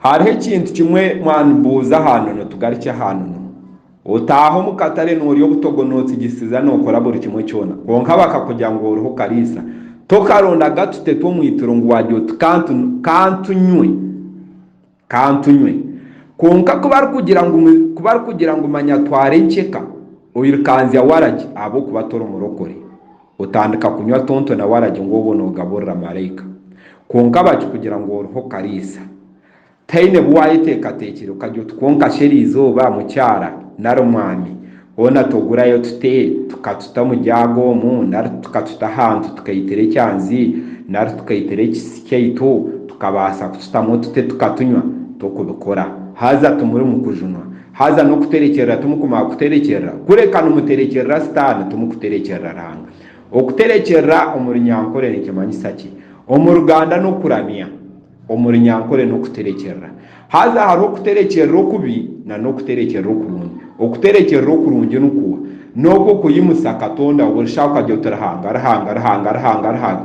Hariho ekintu kimwe mwanibuuza ahanono tugarukye ahanono. Otaaha omu katare noorya obutogo nootsigisiza nookora buri kimwe kyona kwonka bakakugira ngu oriho kariisa. Tokaronda agatu tetu omu ituro ngu waarya oti kantunywe kantunywe. Kwonka ku barikugira ngu ku barikugira ngu manya twara enkyeka oirikanzya waragi ahabw'okuba tori murokore. Otandika kunywa tonto nawe aragye ngu obwo noogaburira maraika. Kwonka bakikugira ngu oriho kariisa. Taine bu waayeteekateekire okagye oti kwonka shi eriizooba mukyara nari mwami hoona togurayo tute tukatuta omu jaaga omu nari tukatuta ahantu tukaitira ekyanzi nari tukaitira ekisisi kyaitu tukabaasa kututamu tute tukatunywa? Tokubikora. Haza timuri mu kujunwa. Haza n'okuterekyerera timukumara kuterekyerera, kureka nimuterekyerera Sitaane, timukuterekyerera Ruhanga. Okuterekyerera omu Runyankore nikimanyisa ki? Omu Ruganda n'okuramya, omu Runyankore n'okuterekyerera. Haza hariho okuterekyerera okubi na n'okuterekyerera okurungi. Okuterekyerera okurungi ni kuha? N'okwo kuyimusa Katonda, orishaba okagira oti, Ruhanga, Ruhanga, Ruhanga, Ruhanga, Ruhanga.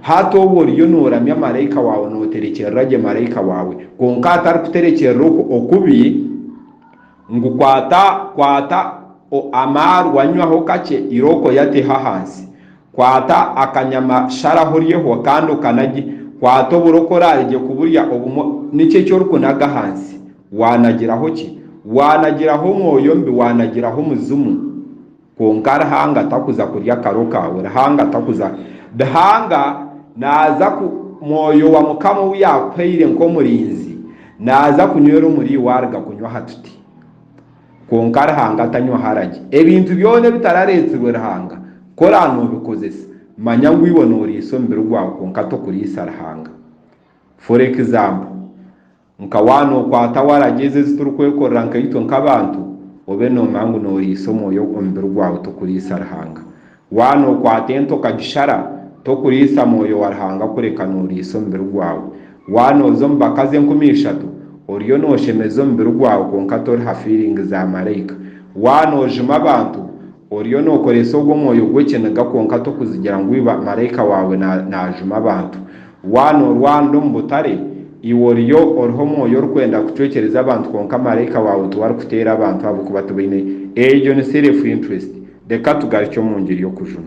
Hati obu oriyo nooramya maraika waawe nooterekyerera gye maraika waawe, kwonka atarikuterekyerera okwo okubi, ngu kwata, kwata o, amaarwa nywaho kakye irooko ya teho ahansi, kwata akanyama sharaho oryeho kandi okanagye, kwata oburoko oraare gye kuburya obumwe, nikyo eki orikunaga ahansi, waanagiraho ki? Waanagiraho omwoyo omubi, waanagiraho omuzimu. Kwonka Ruhanga takuza kurya karo kaawe, Ruhanga takuza. Ruhanga naaza ku, Mwoyo wa Mukama ou yaakuhaire nk'omurinzi, naaza kunywera omuri iwe aruga kunywa aha tuti. Kwonka Ruhanga tanywa haragi. Ebintu byona ebitarareetsirwe Ruhanga, ku oraabe noobikozesa, manya ngu iwe nooriisa omubiri gwawe kwonka tokuriisa Ruhanga. For example, Nka waana okwata waragi ezi ezi turikwekorera nkaitwe nk'abantu, obe noomanya ngu nooriisa omwoyo omubiri gwawe tokuriisa Ruhanga. Waana okwata ente okagishara, tokuriisa mwoyo wa Ruhanga kureka nooriisa omubiri gwawe. Waana oza omu bakazi enkumi ishatu, oriyo nooshemeza omubiri gwawe kwonka toriha fiiringi za maraika. Waana ojuma abantu, Oriyo nookoresa ogwo mwoyo gw'ekiniga kwonka tokuzigira ngu iba maraika waawe naajuma abantu. Waaba noorwanira omu butare, iwe oriyo oriho omwoyo orikwenda kucwekyereza abantu kwonka maraika waawe tiwe arikuteera abantu ahabw'okuba tibaine. Egyo ni self interest. Reka tugarukye omu ngiri y'okujuma.